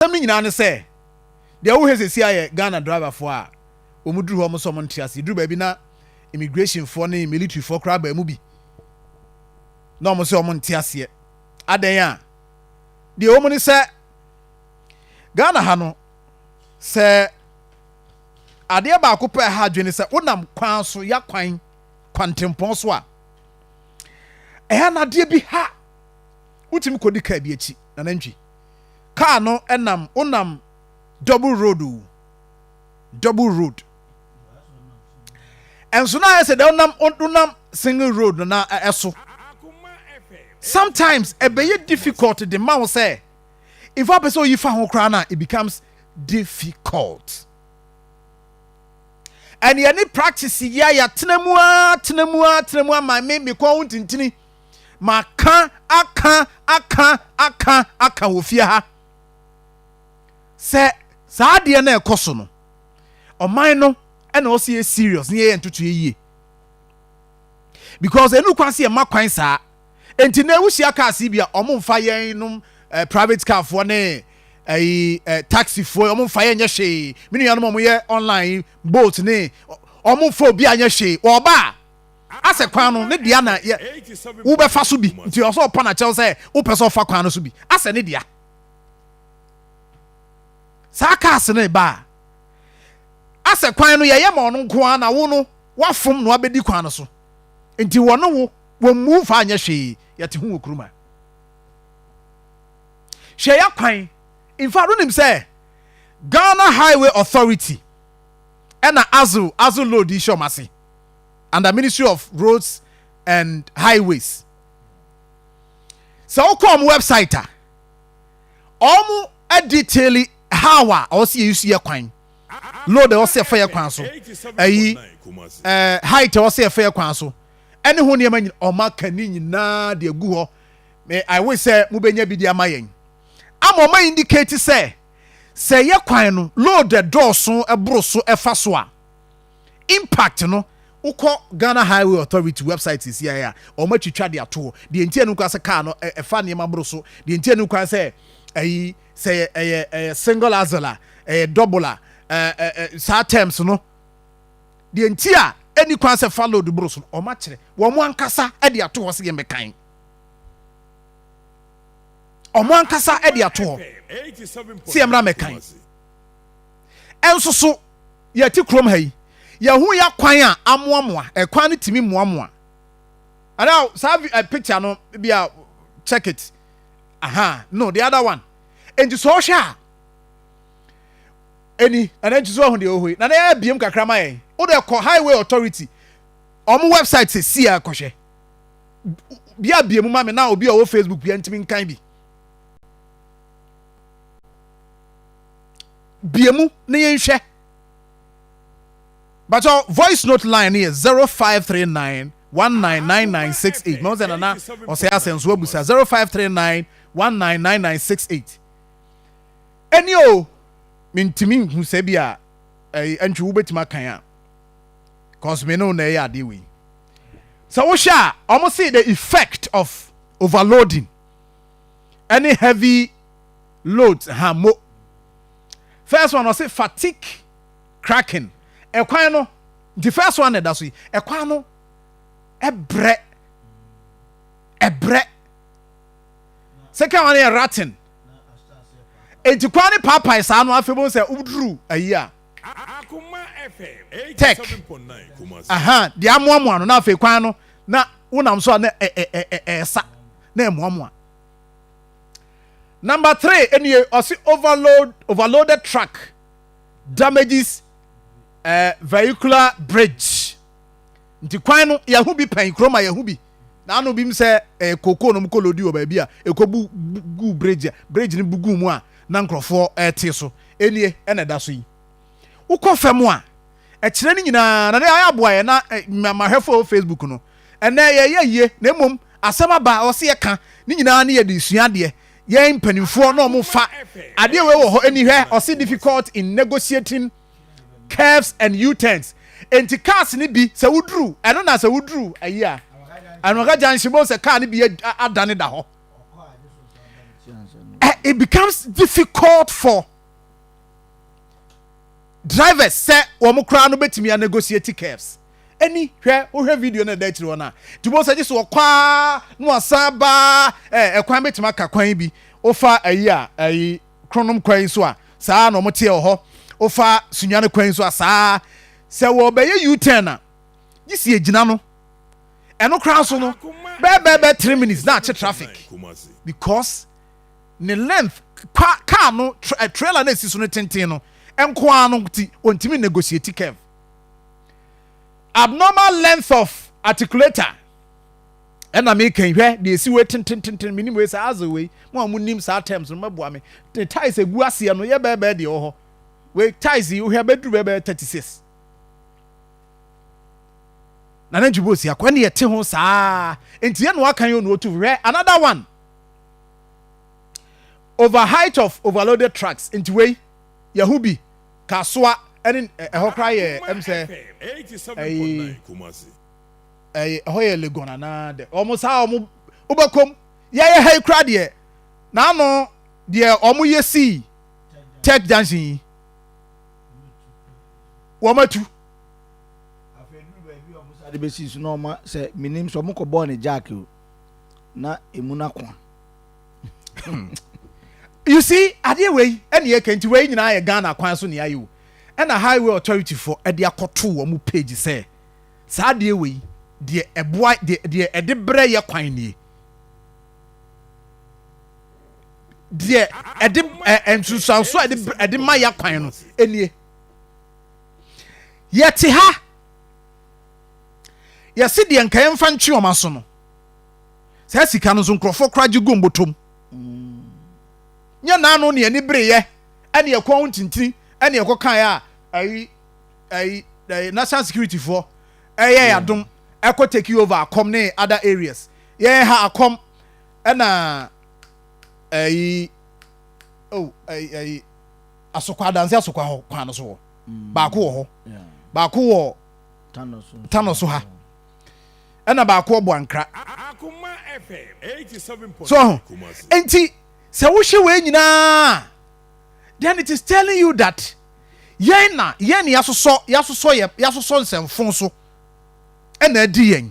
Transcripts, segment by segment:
Asɛm no nyinaa ne sɛ, deɛ wohwɛ seesei ayɛ Ghana driverfoɔ a wɔn duru hɔ wɔn nso wɔn nte aseɛ, duru baabi na immigrationfoɔ ne militarifoɔ koraa baa mu bi na wɔn nso wɔn nte aseɛ, adɛn a, deɛ ɛwɔ mu ne sɛ Ghana ha no sɛ adeɛ baako pɛ a ɛha adwene ne sɛ wonam kwan so ya kwan kwantempɔn so a ɛha no adeɛ bi ha wotumi kɔdi kaa bi akyi na nantwi Car no nam wonam double road o double road ɛnso na ayɛ sɛ dɛ wonam wonam single road no na ɛso sometimes ɛbɛyɛ difficult de ma wo sɛ nfa apɛ sɛ oyi fa ho koraa na it becomes difficult ɛne ɛne practice yɛ a yɛatena mu a tena mu a tena mu ama me mekɔn ho ntintini Maka aka aka aka aka wɔ fie ha sɛ saa adeɛ no a ɛkɔ so no, ɔman no ɛna ɔsɛ yɛ serious ne yɛyɛ ntotoeɛ yie because ɛnu kwan sɛ yɛma kwan saa nti na ɛwuhyia kaa si bi a ɔmo mfa yɛn nom eh, private car foɔ ne ɛyi eh, eh, taxi foɔ ɔmo mfa yɛn nyɛ hwee me nuanom ɔmo yɛ online bolt ne ɔmo mfa obi anyɛ hwee ɔba a Asɛ kwan no ne dea na yɛ wo bɛ fa so bi nti ɔsɛ ɔpɔ na kyɛw sɛ wo pɛ sɛ ɔfa kwan no so bi asɛ ne dea saa cars no ba a asɛ kwan no yɛ yɛ ma ɔno nko ara na wo no wafom na wabɛdi kwan no so nti wɔ ne wo wɔ mmu fa anyɛ hwee yɛ te ho wɔ kuruma hwɛ yɛ kwan in fact wonim sɛ Ghana Highway Authority ɛna azo azo load yi hyɛ ɔmo ase. under ministry of roads and highways sɛ wokɔ ɔmo website a ɔmo detail how a ɔwɔ sɛ yɛyi so yɛ kwan load ɛwɔ sɛ yɛfa yɛ kwan so ɛyi ɛɛ height ɛwɔ sɛ yɛfa yɛ kwan so ɛne ho nneɛma nyina ɔmo aka ne nyinaa de agu hɔ me i wish sɛ mobɛnya bi de ama yɛn ama ɔmo indicate sɛ sɛ yɛ kwan no load ɛdɔɔso ɛboro so ɛfa so a impact no wokɔ Ghana Highway Authority website sesiae a wɔn atwitwa de ato hɔ deɛ nti ɛne kwan sɛ kaa no ɛfa nneɛma boro so deɛ nti ɛne kwan sɛ ɛyi sɛ ɛyɛ ɛyɛ single axle a ɛyɛ double a ɛɛ saa terms no deɛ nti a ɛne kwan sɛ fa load boro so no wɔn akyerɛ wɔn ankasa de ato hɔ sɛ yɛn bɛkan wɔn ankasa de ato hɔ sɛ yɛn mmerɛ mɛkan. nso so yɛte kurom ha yi, yɛhu yɛ kwan a amoamoa, ɛkwan no tumi moamoa. Anaa saa eh, picture no bi a check it. Aha, no, the other one. Enti sɛ ɔhwɛ a, ɛni, ɛna nti so ahu deɛ ɔhɔ yi. Na na yɛ abiem kakra ma yɛn. Wode kɔ Highway Authority, ɔmo website sɛ si a kɔhwɛ. Bi abiem ma me na obi a ɔwɔ Facebook bi a ntumi nkan bi. bie mu na yɛnhwɛ bàtɔ voice note line no yɛ zero five three nine one nine nine nine six eight mɛ ɔsɛ nana ɔsɛ asɛn so abusa zero five three nine one nine nine nine six eight ɛni o mintimi nhu sɛ bi a ɛyi ɛntwi wobɛtumi akan a cause mi ne na ɛyɛ adeɛ wei sɛ wohwɛ a wɔn si the effect of overloading ɛne heavy. loads ha mo. First one ɔse fatigue cracking ɛkwan no nti first one na ɛda so yi ɛkwan no ɛbrɛ ɛbrɛ second one yɛ ratting enti kwan no paapae saa no afei bɛhu sɛ woduru ayi a tech aha deɛ amoamoa no na afei kwan no na wonam so a na ɛsa na ɛmoamoa Number three ɛnie ɔse overload overloaded truck damages uh, vehicular bridge nti kwan no yɛho bi pɛn kurom a yɛho bi na ano bi sɛ eh, koko no mokɔ lodi wɔ baabi a ɛkɔ bu gu bridge a bridge no bu gu mu a na nkurɔfoɔ ɛte so ɛnie ɛna ɛda so yi Wokɔ fam a, ɛkyerɛ ne nyinaa, na ne ayɛ aboa yɛ na mmahwɛfo wɔ Facebook no. Ɛnɛ yɛyɛ yie, na mmom asɛm aba a ɔsɛ yɛka ne nyinaa ne yɛde sua adeɛ. Yɛn mpanimfoɔ na wɔn fa adeɛ wei wɔ hɔ ani hwɛ, ɔsɛ difficult in negotiating curves and U-turns. Enti cars no bi sɛ woduru ɛno na sɛ woduru ayi a, Anwaga junction bɛhu sɛ car no bi adane da hɔ. It becomes difficult for drivers sɛ wɔn koraa no bɛtumi a negotiate curves ɛni hwɛ wohwɛ video no ɛda akyiri hɔ no a nti wobɛhu sɛ gye so wɔkɔ a na wasan baa eh, ɛkwan bɛtumi aka kwan bi wofa ayi a ayi kronom kwan so a saa na wɔteɛ wɔ hɔ wofa sunya no kwan so a saa sɛ wɔbɛyɛ u-turn a gye si agyina no ɛno koraa so no bɛɛbɛɛbɛ 3 minutes na akye traffic because ne length, kwa car no tra trailer no a esi so no tenten no nko ara no nti ontumi nnegotiate curve. Abnormal length of articulator ɛna meka yi hwɛ deɛ esi wei tentententen menim wei sɛ aze wei mo a mo nim saa terms no mɛboa me ne ties egu aseɛ no yɛ bɛɛbɛɛ deɛ wɔ hɔ wei ties yi wohwɛ bɛduru bɛɛbɛɛ thirty six na nantwi bɔ osi akɔ ɛne ɛte ho saa nti yɛ na waka yɛ onu otu hwɛ another one. Over height of overloaded trucks nti wei yɛho bi ka soa ɛne ɛhɔ koraa yɛ ɛm sɛ ɛyi ɛyi ɛhɔ yɛ Legon anaa dɛ wɔn saa wɔn wobɛkɔm yɛyɛ ha yi koraa deɛ n'ano deɛ wɔn yɛ sii tech junction yi wɔn atu. afei duru baabi a wɔn sa de bɛsi so na wɔn sɛ menim sɛ wɔn kɔ bɔɔ ne jack o. na emu no ako you see adeɛ wei ɛna yɛ kɛ nti wei nyinaa yɛ ghana kwan so nea yɛ o ɛna highway authority fo ɛde akɔto wɔn page sɛ saa adeɛ wei deɛ ɛboa deɛ deɛ ɛde brɛ yɛ kwan nie deɛ ɛde ɛ nsunsuanso a ɛde ɛde ma yɛ kwan no nie yɛte ha. yɛse deɛ nka yɛmfa ntwe wɔn aso no saa sika no nso nkurɔfoɔ koraa gye gu mbotom mm. nyɛ naano ne ani bereyɛ ɛne ɛkɔn ho ntintini ɛne ɛkɔ kaeɛ a ɛyi ɛyi ɛyi national security foɔ ɛyɛ yadom ɛkɔ take over akɔm ne other areas yɛn ha akɔm ɛna ɛyi oh ɛyi ɛyi asokwa adansi asokwa hɔ kwan no so wɔ mm. baako wɔ hɔ baako wɔ. tano so ha ɛna baako ɔbɔ ankra so ho nti sɛ wohwɛ wei nyinaa then it is telling you that yɛn na yɛn na yasosɔ yasosɔ yɛ yasosɔ nsɛmfo so ɛna adi yɛn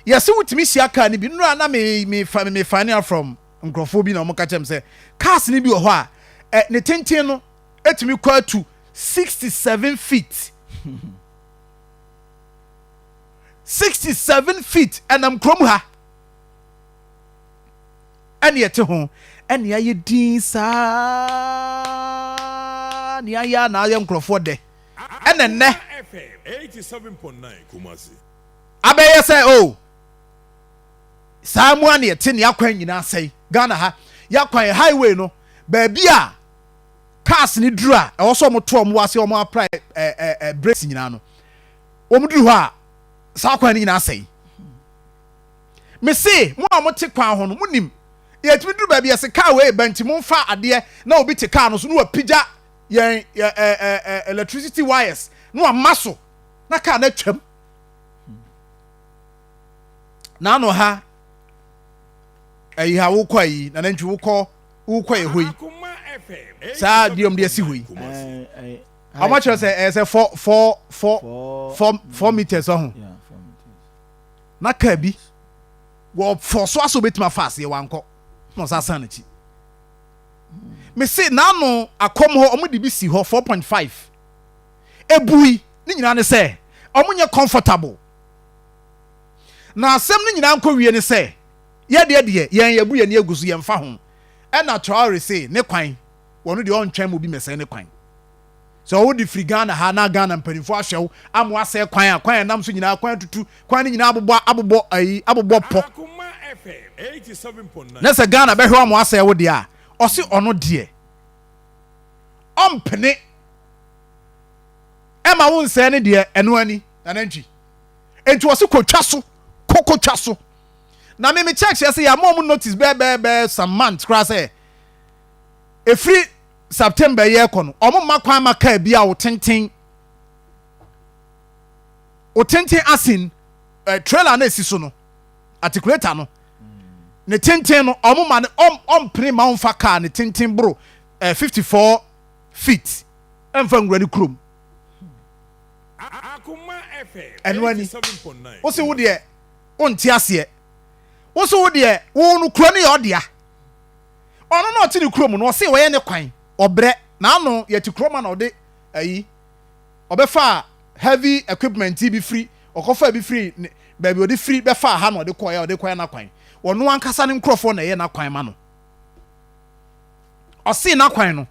yɛsɛ wotumi hyia kaa no bi nnura na me me fa me fa ne from nkurɔfoɔ bi na wɔn ka kyɛm sɛ cars no bi wɔ hɔ a ɛ ne tenten no Etumi kɔ atu sixty seven feet. Sixty seven feet ɛnam kurom ha. Ɛne ɛte ho ɛne ayɛ din saa ne ayɛ a na ayɛ nkurɔfoɔ dɛ ɛna nnɛ abɛyɛ sɛ o oh, saa mu a ne ɛte ne akwan nyinaa sɛe Ghana ha yɛ akwan highway no baabi a cars no duru a ɛwɔ sɛ wɔn to wɔn wɔ ase a wɔn apply ɛɛ ɛɛ brakes nyinaa no wɔn duru hɔ a saa kwan no nyinaa asɛe mese mo a mo te kwan ho no mo nim yɛtumi duru baabi yɛse car wei ba nti mo nfa adeɛ na obi te car no so na wapigya yɛn ɛɛ ɛɛ electricity wires na wama so na car no atwam na ano ha ɛyi ha wokɔ ayi na nantwi wokɔ. wokɔɛ hɔ yi saa deɛ ɔmde asi hɔ yi ɔmo akyerɛ sɛ ɛyɛ sɛ four four four four four meters ɔho na kaa bi wɔ fɔ so aso betumi afa aseɛ wankɔ na ɔsa san n'akyi mese n'ano akɔm hɔ ɔmo de bi si hɔ four point five ebui ne nyinaa ne sɛ ɔmo nyɛ comfortable na asɛm no nyinaa nkɔ wie ne sɛ Yɛdeɛ deɛ yɛn yɛbu yɛn ani agu so yɛnfa ho ɛna Traore se ne kwan wɔno deɛ ɔntwɛn ma obi mɛsɛe ne kwan sɛ ɔwo de firi Ghana ha na Ghana mpaninfoɔ ahwɛ wo ama wasɛe kwan a kwan a ɛnam so nyinaa kwan atutu kwan no nyinaa abobɔ abobɔ ayi abobɔ pɔ na sɛ Ghana bɛhwɛ wo ama wasɛe wo deɛ a ɔse ɔno deɛ ɔmpene ɛma wo nsɛe ne deɛ ɛno ani nanantwi enti ɔse kɔtwa so kɔ kɔtwa so. Na me me church ɛsɛ yɛ ama ɔmo notice bɛɛ bɛɛ bɛɛ some months koraa sɛ efiri September yi ɛkɔ no ɔmo mma kwan ma car bi a otenten otenten asin eh, trailer na esi so no articulator no ne tenten no ɔmo ma ne ɔm ɔmpene ma ɔmfa car ne tenten boro eh, 54 feet ɛmfa nwura ne kurom ɛno ani wosi wo deɛ. Wonte aseɛ. Wo se wo deɛ wo no kuro no yɛ ɔdea. Ɔno na ɔte ne kuro mu no ɔse ɔyɛ ne kwan. Ɔbrɛ. Naano yɛte kuro ma na ɔde ayi. Ɔbɛfaa heavy equipment bi firi ɔkɔfaa bi firi ne baabi ɔde firi bɛfaa ha na ɔde kɔɔɛ a ɔde kɔyɛ n'akwan. Ɔno ankasa ne nkorɔfoɔ na ɛyɛ n'akwan ma no. Ɔse n'akwan no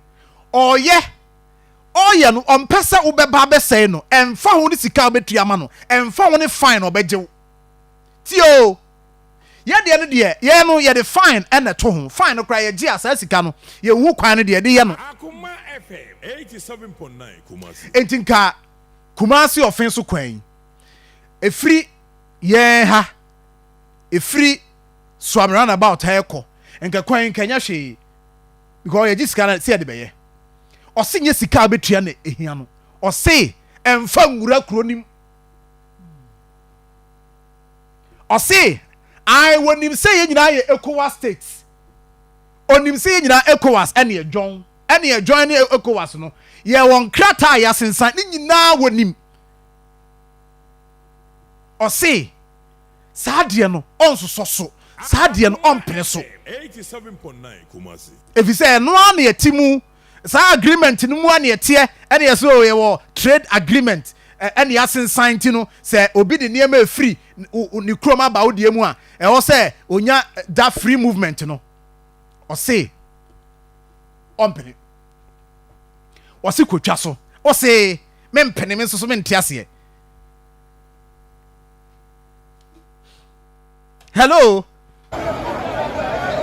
ɔɔyɛ. ɔreyɛ no, ɔmpɛ sɛ wobɛba abɛsɛe no, ɛmfa ho ne sika a wobɛtua ama no, ɛmfa ho ne fine a ɔbɛgye wo. Tie oo, yɛ deɛ no deɛ, yɛn no, yɛde fine na ɛto ho, fine no koraa, yɛgye a, saa sika no, yɛnhu kwan no deɛ, yɛde yɛ no. Enti nka Kumasi ɔfe so kwan yi, ɛfiri yɛn ha, ɛfiri Suame roundabout ha rekɔ, nka kwan yi, nka ɛnyɛ hwee. because yɛgye sika na sɛ yɛde bɛyɛ ɔse nyɛ sika a bɛtua na ɛhia no ɔse ɛmfa nwura kuro nim ɔse ae wɔnim sɛ yɛ nyinaa yɛ ECOWAS states ɔnim sɛ yɛ nyinaa ECOWAS ɛne ɛdwɔn ɛne ɛdwɔn ne ECOWAS no yɛ wɔn krataa a yɛasensan ne nyinaa wɔnim ɔse Saa adeɛ no, ɔnsosɔ so. Saa adeɛ no, ɔmpene so. Ɛfiri sɛ, ɛno ara na yɛte mu. Saa agreement no mu ara na yɛteɛ. Ɛna yɛ sɛ, oh, yɛwɔ trade agreement. Ɛ, ɛna yɛasensan nti no, sɛ obi de nneɛma refiri wo, ne kurom aba wo deɛ mu a, ɛwɔ sɛ ɔnya that free movement no. Ɔse, ɔmpene. Ɔse, kɔtwa so. Ɔse, mempene, me nso so mente aseɛ. hello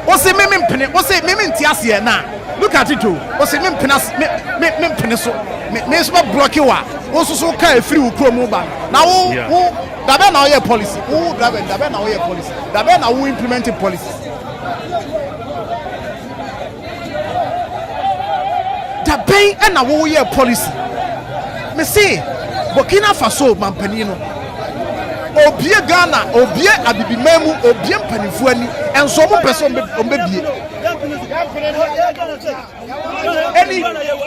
wose me mempene wose me mente aseɛ na look at it o wose me mpene ase me me me mpene so me me nso bɛ block wa wo nso so ka efiri wo kuro mu ba na wo yeah. wo dabɛ na ɔyɛ policy wo driver dabɛ na ɔyɛ policy dabɛ na wo implement policy. Da bɛn na woyɛɛ policy? Mese Burkina Faso manpanin no, obue Ghana, obue Abibiman mu, obue mpanimfoɔ ani, nso wɔn mpɛ sɛ wɔn bɛbue ani,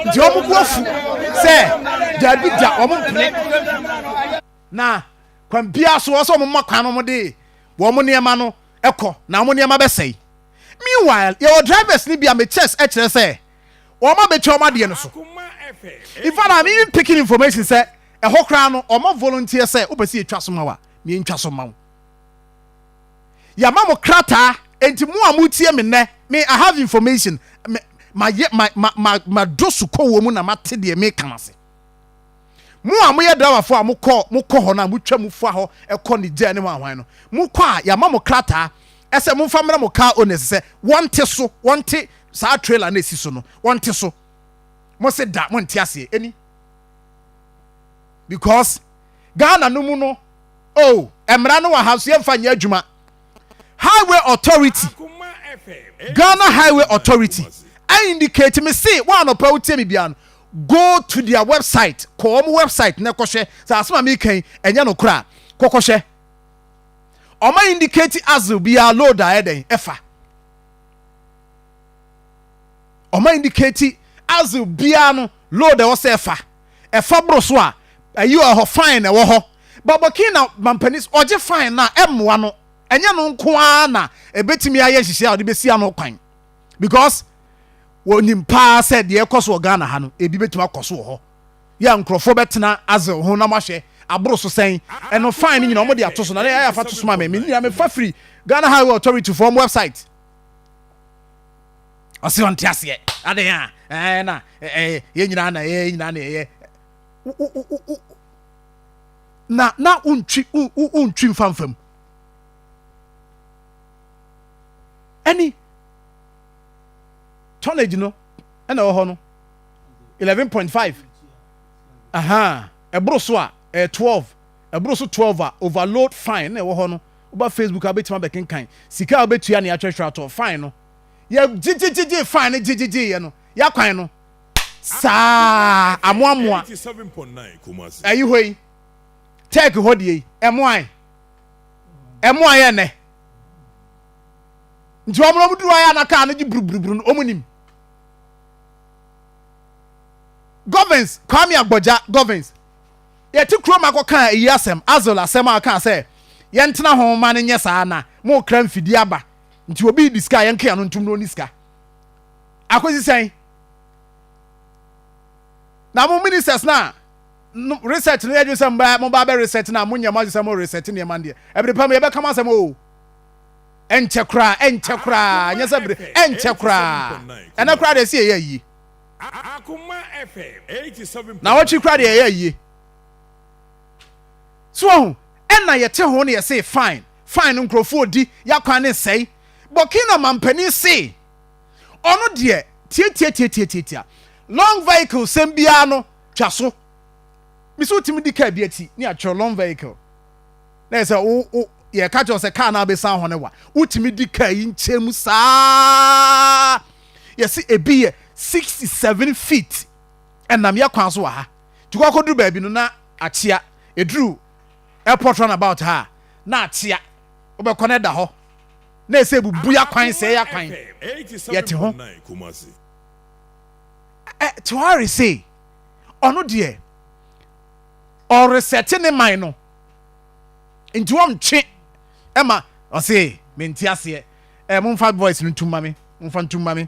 nti wɔn bu afu sɛ daabi da wɔn mpene. Na kwan biara so wɔn sɛ wɔn ma kwan no wɔn de wɔn nneɛma no kɔ na wɔn nneɛma bɛsɛe. Meanwhile, yɛwɔ drivers no bi a me chest kyerɛ sɛ wɔn a betwa wɔn adeɛ no so. In fact, I'm even picking information sɛ ɛhɔ koraa no wɔn volunteer sɛ wopɛ sɛ yɛtwa so ma wo a, yɛntwa so mma wo. Yɛama mo krataa, enti mo a moretie me nnɛ, me I have information, me, mayɛ, ma, ma, ma, madɔ sukɔwoɔ mu na mate deɛ meka no ase. Mo a moyɛ driverfoɔ a mokɔ mokɔ hɔ no a motwa mu fa hɔ kɔ Niger ne hwan hwan no, mokɔ a yɛama mo krataa sɛ momfa mmrɛ mo car owners sɛ wɔnte so, wɔnte saa trailer no a ɛsi so no, wɔnte so. Mose da monte aseɛ ɛni because Ghana no mu no oh, mmara no wɔ ha nso yɛmfa nyɛ adwuma. highway authority ghana highway authority I indicate me se wɔn anɔpa wotie me bia no go to their website kɔ wɔn website na kɔhwɛ sɛ asɛm a meka yi ɛnyɛ no koraa kɔkɔhwɛ wɔn indicate axle biara load a ɛdɛn ɛfa wɔn indicate axle biara no load ɛwɔ sɛ ɛfa. ɛfa boro so a, ayi wɔ hɔ, fine na ɛwɔ hɔ. But Burkina mampanin sɛ ɔgye fine no a, ɛmmoa no. Ɛnyɛ no nko ara na ɛbɛtumi ayɛ nhyehyɛe a ɔde bɛsi ano kwan. Because wɔnim paa sɛ deɛ ɛkɔ so wɔ Ghana ha no, ebi bɛtumi akɔ so wɔ hɔ. Yɛ a nkurɔfoɔ bɛtena ase ho na wɔahwɛ aboro so sɛn. Ɛno fine no nyinaa wɔde ato so. Na ɛyɛ afa to so ma me. Me nyinaa mefa firi Ghana Highway Authority foɔ wɔn website. ɔse ɔnte aseɛ adɛn a ɛɛ na ɛɛ yɛ nyinaa na ɛyɛ yɛ nyinaa na ɛyɛ na na wontwi wontwi mfamfam ɛni tonnage no ɛna ɛwɔ hɔ no eleven point five aha ɛboro so a ɛyɛ eh, twelve ɛboro so twelve a overload fine na ɛwɔ hɔ no woba facebook a wobɛtumi abɛkenkan sika a wobɛtua ne atwɛhwɛ atɔ fine no Yɛgyegyegyegyee fine no gyegyegyeeɛ no, yɛakwan no saa amoamoa. Ayi hɔ yi, Turkey hɔ deɛ yi, ɛmoae. Ɛmoae ɛnɛ. Nti wɔn na wɔn duru ayɛ na kaa no gye buruburuburu no, wɔn nim. Govins, Kwame Agbɔgya Govins, yɛte kurom akɔka eyi asɛm, Azol asɛm a ɔkaa sɛ yɛntena ho ma no nyɛ saa na mokra mfidie aba. Nti obi redi sika a yɛnkea no ntom na ɔnni sika? Akosi sɛn? Na mo ministers no a no reset no yɛ adwene sɛ mbaa mo ba bɛ reset no a monyɛ mo adwene sɛ mo reset nneɛma no deɛ ɛbere pa mu yɛbɛka mo asɛm oo ɛnkyɛ koraa ɛnkyɛ koraa nyɛ sɛ bere ɛnkyɛ koraa ɛnɛ koraa deɛ ɛsɛ yɛyɛ ayie na wɔtwe koraa deɛ yɛyɛ ayie so ɔho Ɛna yɛte ho na yɛsee fine fine nkorɔfoɔ ɔdi yakwan ne nsɛe Burkina manpanin see ɔno deɛ tiatiatiatiatiatia long vehicle sɛm biara no twa so mese wotumi di car bi ati ne atwerɛ long vehicle na yɛsɛ wo wo yɛka kyerɛ sɛ car no abɛsan hɔ ne wa wotumi di car yi nkyɛn mu saa yɛse ebi yɛ 67 feet ɛnam yɛ kwan so wɔ ha nti kɔkɔduru baabi no na Atea, ɛduru airport run about ha a, na atea, wobɛkɔ no ɛda hɔ, na ɛsɛ ɛbubu yɛ akwan, sɛɛ yɛ akwan, yɛte ho. Ɛ, Tuare sei, ɔno deɛ, ɔresɛte ne man no, nti wɔntwe ɛma, ɔse, mente aseɛ, ɛ, momfa voice no ntum ma me, momfa ntum ma me.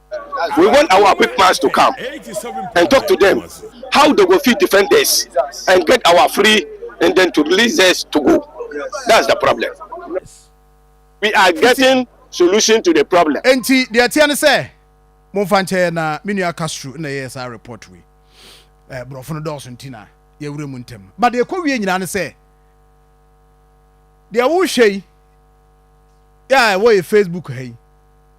We want our big mans to come and talk to them how they go fit defend us and get our free and then to release us to go that's the problem we are getting solution to the problem. Enti deɛ ɛteɛ ne sɛ momfa nkyɛ yɛn na me nua Castro na ɛyɛɛ saa report wei. Eh, borɔfo no dɔɔso nti na yɛawura mu ntɛm. Ba deɛ ɛkɔ wie nyinaa ne sɛ deɛ wohwɛ yi yɛ a ɛwɔ yɛ Facebook ha yi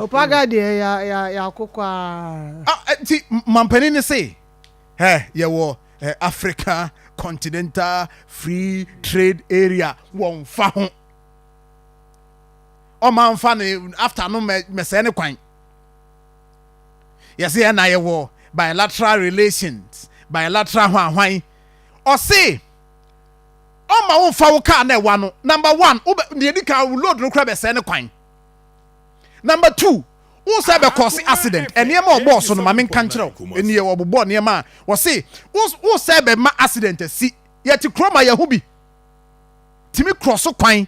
opaga deɛ yɛakokɔ a nti mampanin ne se yɛwɔ africa continental free trade area wɔmfa ho ɔma mfa ne after no mɛsɛɛ ne kwan yɛse yɛn na yɛwɔ bilateral relations bilateral hwanhwan ɔse ɔmma wo nfa wo car na ɛwa no number one deɛ di kan wo load no kora bɛsɛe ne kwan number two wo sɛ bɛkɔse accident nneɛma a ɔbɔɔ so no ma menka nkyerɛ wo ɛnie ɔbobɔ nneɛma a wɔse wo sɛ bɛma accident asi yɛte kuro ma yɛho bi tumi korɔ so kwan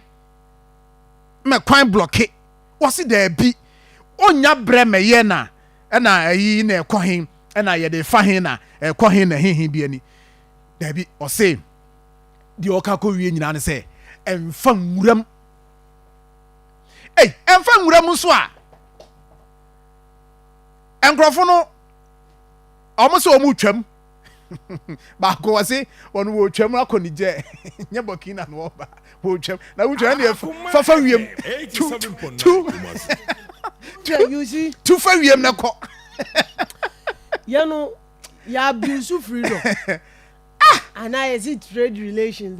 ma kwan blɔke wɔse daabi ɔnya berɛ mɛyɛ na ɛna ayi na ɛkɔ he ɛna yɛde fa he na ɛkɔ he na hehe bi ani Daabi, ɔse, deɛ ɔka kɔwie nyinaa ne sɛ, ɛmfa nwuram. Ei, ɛmfa nwuram nso a, nkurɔfo no, wɔn sɛ wɔn retwam. baako wɔ se wɔn wɔ twam akɔ ne gyɛ nyɛ burkina na wɔba wɔ twam na wotwa ne fafa wiem tu tu tu fa wiem na kɔ yɛn no yɛ abuse firi dɔ ah and I see trade relations.